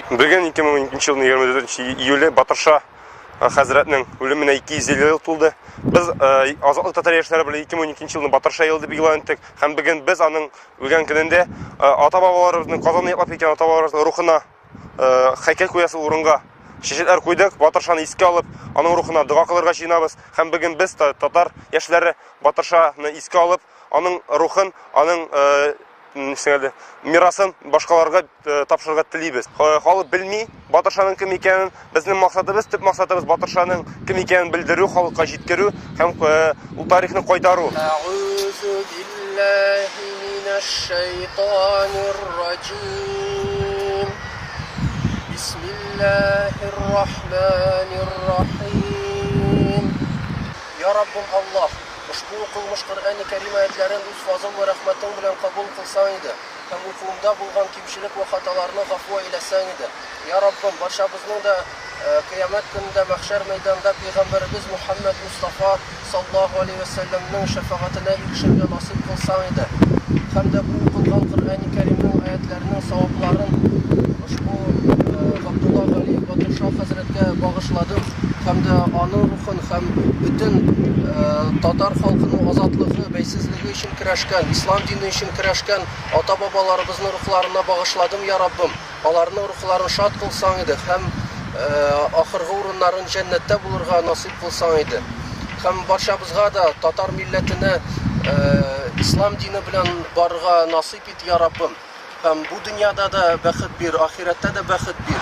Бүген 2012 елның 24 июле Батырша хәзрәтнең үлеменә 250 ел тулды. Без Азатлык татар яшьләре белән 2012 елны Батырша елы дип игълан иттек һәм бүген без аның үлгән көнендә ата-бабаларыбызның Казанны яклап киткән ата-бабаларыбызның рухына хәйкәл куясы урынга шешеләр куйдык. Батыршаны искә алып, аның рухына дога кылырга җыенабыз һәм бүген без татар яшьләре Батыршаны искә алып, аның рухын, аның нисәле мирасын башкаларга э, тапшырырга телибез. Халык белми Батыршаның кем икәнен. Безнең максатыбыз, төп максатыбыз Батыршаның кем икәнен белдерү, халыкка җиткерү һәм э, ул тарихны кайтару. Бисмиллаһир-рахманир-рахим. Я Раббым Аллаһ Ошбу укылмыш Коръәни Кәрим аятьләрен үз фазыл вә рәхмәтең белән кабул кылсаң иде һәм укуымда булган кимчелек вә хаталарны гафу әйләсәң иде. Йа Раббым, барчабызның да Кыямәт көнендә мәхшәр мәйданында пәйгамбәребез Мухәммәд Мостафа саллаһу алейһи вә сәлләмнең шәфәгатенә ирешергә насыйп кылсаң иде һәм дә бу укылган Коръәни Кәримнең аятьләренең савапларын ошбу Габдулла Галиев Батырша хәзрәткә багышладык. һәм дә аның рухын һәм бөтен татар халкының азатлыгы, бәйсезлеге өчен көрәшкән, ислам дине өчен көрәшкән ата-бабаларыбызның рухларына багышладым, я Раббым. Аларның рухларын шат кылсаң иде һәм ахыргы урыннарын җәннәттә булырга насыйп кылсаң иде. Һәм барчабызга да татар милләтенә ислам дине белән барырга насыйп ит, я Раббым. һәм бу дөньяда да бәхет бир, ахирәттә дә бәхет бир.